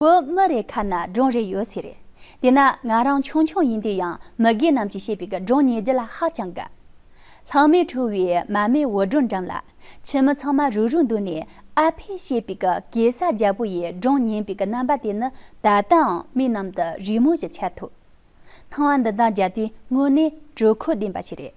བུ་མོ་རེ་ཁ་ན་སྒྲུང་རེ་ཡོད་ཚེ་རེད། དེས་ན་ང་རང་ཆུང་ཆུང་ཡིན་དུས་ཡང་མི་རྒན་རྣམས་ཀྱིས་བཤད་པའི་གི་སྒྲུང་ཉན་རྒྱུ་ལ་ཧ་ཅང་དགའ། ལྷག་མའི་ཁྲོ་བོའི་མ་མའི་འུར་སྒྲོག་འགྲམ་ལ། ཁྱིམ་མི་ཚང་མ་རུག་རུག་འདུག་ནས་ཨ་ཕས་བཤད་པའི་གི་གེ་སར་རྒྱལ་པོ་ཡི་སྒྲུང་ཉན་པའི་གི་རྣམ་པ་དེ་ནི་ད་ལྟའང་མིག་ནང་དུ་རི་མོ་བཞིན་འཆར་ཐུབ། སྣང་བ་འདི་དག་རྒྱབ་དུས་དངོས་གནས་དྲོད་ཁོལ་ལྡན་པ་ཞིག་རེད།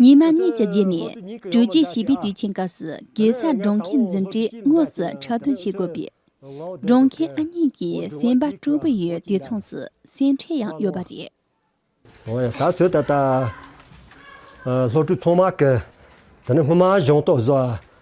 ཉི་མ་གཉིས་ཀྱི་རྗེས་ནས་དྲུག་ཅུའི་བྱིས་པའི་དུས་ཆེན་སྐབས་སུ་གེ་སར་སྒྲོན་ཁའི་འཛིན་གྲྭའི་དངོས་སུ་འཁྲབ་སྟོན་བྱེད་དགོས་པས། སྒྲོན་ཁའི་ཨ་མྱེས་ཀྱི་སེམས་པ་སྤྲོ་པོ་ཡོད་དུས་མཚུངས་སུ་སེམས་ཁྲལ་ཡང་ཡོད་པ་རེད། ཨོ་ཡ་ད་གཟོད་ད་ལྟ། སློབ་ཕྲུག་ཚང་མ་གི། དེ་ནི་སྔོན་མ་གཞུང་རྟོག་བཟོ་བ།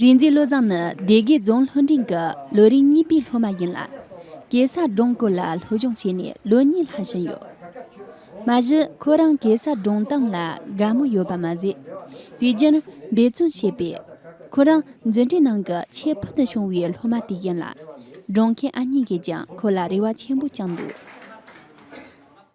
རིག་འཛིན་བློ་བཟང་ནི་སྡེ་དགེ་རྫོང་ལྷོ་འབྲིང་གི་ལོ་རིམ་གཉིས་པའི་སློབ་མ་ཡིན་ལ། གེ་སར་སྒྲུང་སྐོར་ལ་སློབ་སྦྱོང་བྱས་ནས་ལོ་གཉིས་ལྷག་ཕྱིན་ཡོད། མ་གཞི་ཁོ་རང་གེ་སར་སྒྲུང་གཏམ་ལ་དགའ་མོས་ཡོད་པ་མ་ཟད། དུས་རྒྱུན་འབད་བརྩོན་བྱས་པས། ཁོ་རང་འཛིན་གྲྭའི་ནང་གི་ཁྱད་བུད་དུ་བྱུང་བའི་སློབ་མ་དེ་ཡིན་ལ། སྒྲུང་མཁན་ཨ་མྱེས་ཀྱིས་ཀྱང་ཁོ་ལ་རེ་བ་ཆེན་པོ་བཅངས་འདུག།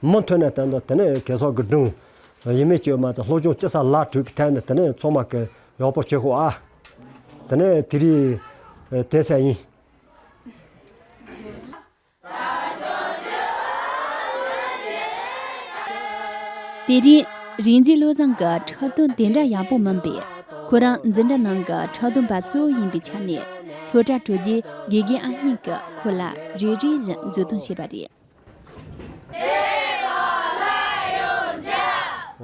མུ་མཐུད་ནས་བསྟན་ཏོ་དེ་ནས་གེ་སོགས་ཀྱི་སྒྲུང། ཡིད་མི་བཅོས་མ་ཚད་ལྷོ་ཆུང་སྤྱི་ས་ལ་དྲུད་ཀྱི་ཐད་ནས་དེ་ནས་མཚོ་མ་ཀི་ཡོག་པོ་ཆོས་ཁོ་ཨ། དེ་ནས་དེ་རི་དེ་སའི་ཡིན། དེ་རིང་རིག་འཛིན་བློ་བཟང་གི་ཕྲག་དོན་དེ་འདྲ་ཡག་པོ་མིན་པས་ཁོ་རང་འཛིན་གྲྭ་ནང་གི་ཕྲག་དོན་པ་གཙོ་བོ་ཡིན་པའི་ཆ་ནས་ལྷོ་བྲག་དྲུད་རྒྱུའི་དགེ་རྒན་ཨ་གཉིས་ཀྱིས་ཁོ་ལ་རེ་རེ་བཞིན་འཛུལ་སྟོན་བྱས་པ་རེད།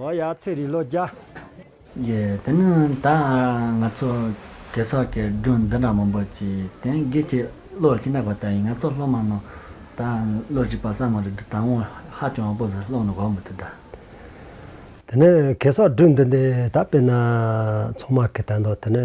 ཨོ་ཡ་ཚེ་རིང་ལོ་བརྒྱ། ཡེ། དེ་ནི་ད་ང་ཚོ་གེ་སར་གྱི་སྒྲུང་འདི་འདྲ་མང་པོ་ཅི་དེ་དགེ་བྱེད་བློ་སྐྱིད་ནག་པ་ལྟ་ཡིན་ང་ཚོ་སློབ་མ་རྣམས་ད་བློ་སྐྱིད་པ་སྲང་མོ་རེད་འདི་ད་ངོ་ཧ་ཅང་བ་པོ་ཟིག་སློང་ནི་གོ་མི་ཐུབ་ད། དེ་ནི་གེ་སར་སྒྲུང་འདི་འདི་ད་དཔེར་ན་ཚང་མ་གི་ད་འདོད་དེ་ནི།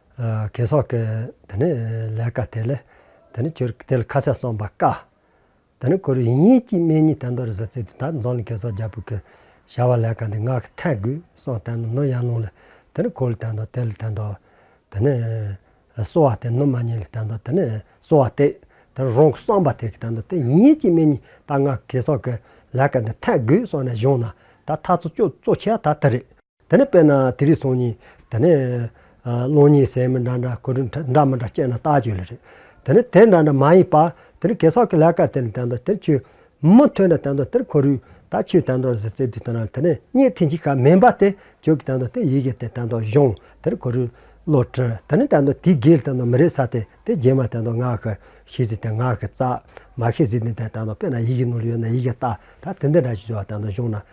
གས་སོགས་ཀྱི་དེ་ནི་ལས་དཀའ་དེ་ལས་དེ་ནི་ཁྱོད་དེ་ལ་ཁ་ཟས་གསོན་པ་དཀའ། དེ་ནི་ཁོར་ཡུག་ཉིད་ཀྱིས་སྨན་ཉིད་དན་ཏོ་རི་ཟ་ཚེ་དུས་ད་རྫོང་ལ་གས་སོགས་རྒྱ་བོད་ཀྱི་བྱ་བ་ལས་དཀའ་འདི་ངག་གི་ཐལ་དགུས་གསོན་དན་ནོ་ཡང་ལུང་ལས་དེ་ནི་ཁོར་ལ་དན་ཏོ་དེ་ལ་དན་ཏོ། དེ་ནི་གསོ་བ་དེ་ནུ་མ་ཉིད་ལ་དན་ཏོ་དེ་ནི་གསོ་བ་དེ་དེ་ནི་རང་གི་གསོན་པ་དེ་གི་དན་ཏོ་དེ་ཡིན་ཉིད་ཀྱིས་སྨན་ཉིད་ད་ངག་གི་གས་སོགས་ཀྱི་ལས་དཀའ་འདི་ཐལ་དགུས་གསོན་ནས་བཞུགས་ན་ད་ཐག་ཚོ་ཅོ་བཙོ་ཆེ་བ་ད་དེ་རེད། དེ་ནས་དཔེར་ན་དེ་རིགས་སོང་ཉིད། དེ་ནས། སློང་ཉིད་ཟས་མི་འདྲ་འདྲ་གོས་འདྲ་མི་འདྲ་སྤྱད་ན་ལྟག་ཆོད་ལས་རེད། དེ་ནས་དེ་འདྲ་འདྲ་མ་ཡིན་པར། དེ་ནི་གེ་སར་གྱི་ལས་ཀར་དེ་ནི་དེ་འདྲ་དེ་ཆོས། མི་ཐོས་འདྲ་དེ་འདྲ་དེར་ཁོར་ཡུག་དང་ཆོས་དེ་འདྲ་ཟེར་ཚེ་དེ་ལྟ་ན་དེ་ནི་རྙེད་ཐེངས་གཅིག་གམ་མིན་པ་དེ་ཆོས་ཀྱི་དེ་འདྲ་དེ་ཡི་གེ་དེ་དེ་འདྲ་གཞུང་དེར་ཁོར་ཡུག། བློ་གྲོས་དེ་ནི་དེ་འདྲ་དེའི་འགལ་དེ་འདྲ་མི་རེད་ས་དེ་དེ་རྗེས་མ་དེ་འདྲ་ངག་གི། ཤེས་ཚེ་དེ་ངག་གི་རྩ། མ་ཤེས་ཚེ་དེ་འདྲ་དེ་འདྲ་དཔེར་ན་ཡི་གེ་ནོར་ཡོད་ན་ཡི་གེ་ལྟ་ད་དེ་འདི་འདྲ་ཞེས་བྱ་བ་དེ་འདྲ་གཞུང་ན་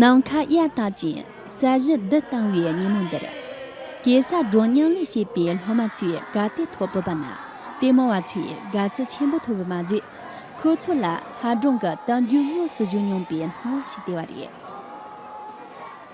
ནམ་མཁའ་གཡའ་དག་ཅིང་ས་གཞི་རྡུལ་གཏང་བའི་ཉིན་མོ་འདིར། གེ་སར་སྒྲོན་མྱང་ལས་བྱེད་པའི་སློབ་མ་ཚོས་དགའ་དད་ཐོག་བོད་པ་ནང་བསྟན་མང་བ་ཚོས་དགའ་བསུ་ཆེན་པོ་ཐོབ་པ་མ་ཟད། ཁོ་ཚོ་ལ་ཧ་སྒྲོན་གྱི་གཏམ་རྒྱུད་དངོས་སུ་བཞུགས་མྱོང་པའི་སྣང་བ་ཞིག་སྟེར་བ་རེད།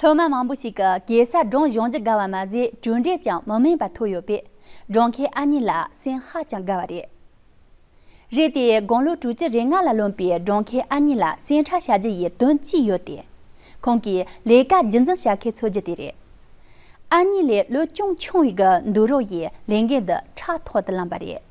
སློབ་མ་མང་པོ་ཞིག་གིས་གེ་སར་སྒྲུང་གཞུང་ཇི་དགའ་བ་མ་ཟད་གྲུབ་འབྲས་ཀྱང་མི་དམན་པ་ཐོབ་ཡོད་པས་སྒྲུང་མཁན་ཨ་མྱེས་ལ་སེམས་ཧ་ཅང་དགའ་བ་རེད། རེད་དེ་དགུང་ལོ་དྲུག་ཅུ་རེ་ལྔ་ལ་ལོན་པའི་སྒྲུང་མཁན་ཨ་མྱེས་ལ་སེམས་ཁྲལ་བྱ་རྒྱུ་ཡི་དོན་གཅིག་ཡོད་དེ། ཁོང་གིས་ལས་ཀ་རྒྱུན་འཛིན་བྱ་མཁན་འཚོལ་རྒྱུ་དེ་རེད། ཨ་མྱེས་ལས་བློ་ཅུང་ཆུང་བའི་གི་འདུག་རོགས་ཡིས་ལས་འགན་འདི་ཕྲག་ཐོག་ཏུ་བླངས་པ་རེད།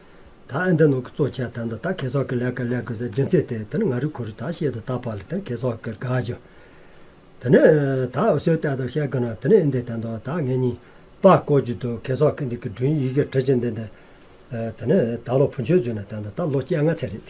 ད་ཨ་མདོའི་ནང་གི་གཙོ་བྱས་དང་ད་གེ་སོག་གི་ལས་ཀ་ལས་དགོས་སའི་རྒྱུ་མཚན་དེ་དེ་ནི་ང་རིག་ཁོ་རིག་ད་བཤད་དུ་ད་བབ་ལ་དེ་ནི་གེ་སོག་གི་དགའ་བཞོ། དེ་ནི་ད་འུ་སུའི་ལྟས་དང་བཤད་དགོས་ན་དེ་ནི་ཨིན་དི་དང་ད་ད་ངེད་གཉིས་པ་ཀོ་རྒྱུ་འདུག་གེ་སོག་གི་འདི་གི་འབྲུའི་ཡི་གེ་བྲི་བྱེད་འདི་འདི། དེ་ནི་ད་ལོ་བུ་མཆོད་བྱུང་ན་དང་ད་ལོ་སྤྱན་སྔ་ཚེ་རིང།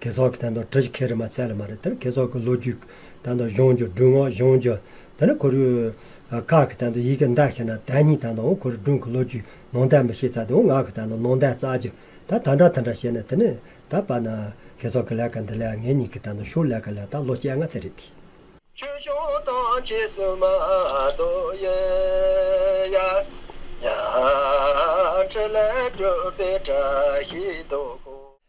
དགེ་ཚོགས་ཀྱི་དང་ཐོག་གྲ་གཞི་ཁེ་རི་མ་ཚད་ལ་མ་རེད་དེར་དགེ་ཚོགས་ཀྱི་ལོ་རྒྱུས་དང་ཐོག་གཞུང་རྒྱུ་སྒྲུང་ངོ་གཞུང་རྒྱུ་དེ་ནི་གོ་རུས་ཀག་གི་དང་ཐོག་ཡི་གེ་མདའ་ཤེས་ན་དད་སྙིང་དང་ཐོག་གོ་རུས་སྒྲུང་གི་ལོ་རྒྱུས་ནོང་དད་མི་ཤེས་ཚ་དེ་ངག་གི་དང་ཐོག་ནོང་དད་རྩ་རྒྱུ་ད་ད་འདྲ་ད་འདྲ་བཤད་ན་དེ་ནི་ད་པ་ན་དགེ་ཚོགས་ཀྱི་ལས་ཀ་འདི་ལས་ངེད་གཉིས་ཀྱི་དང་ཐོག་ཤུགས་ལས་ཀ་ལས་ད་ལོ་བཅད་ང་ཚད་རེད་དེ། ཆོས་སྐྱོང་དང་རྗེས་སུ་མ་ལྡོག་ཡོད་ཡ། ཡ། ཁྲི་ལས་གྲུབ་པའི་གྲ་གཞི་རྡོ་ཁུག།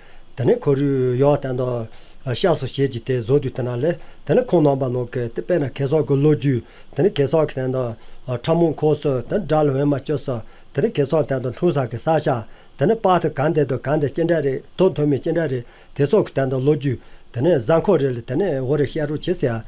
དེ་ནས་ཁོ་རུས་ཡོག་བསྟན་ཏོ། ཤགས་སོ་ཞེས་ཀྱི་དེ་བཟོ་དུས་དེ་ན་ལས། དེ་ནས་ཁོང་ནང་པ་ནོག་གི་དེ་དཔེ་ན་གེ་སོག་གི་ལོ་རྒྱུས། དེ་ནས་གེ་སོག་གི་བསྟན་ཏོ། ཁྲ་མོང་ཁོག་སོ་དེ་ནས་དགྲ་ལ་འོན་མ་བཅོ་སོ། དེ་ནས་གེ་སོག་བསྟན་ཏོ་ལྷུང་བཟང་གི་ས་ཤག། དེ་ནས་དཔག་ཏུ་གང་འདས་དུ་གང་འདས་སྐྱེ་འབྲས་རེ་དོ་དོན་མེད་སྐྱེ་འབྲས་རེ། དེ་སོག་གི་བསྟན་ཏོ་ལོ་རྒྱུས། དེ་ནས་གཟའ་འཁོར་རེ་ལ་དེ་ནས་འོ་རེ་ཤལ་རོ་བྱེད་ཟེར།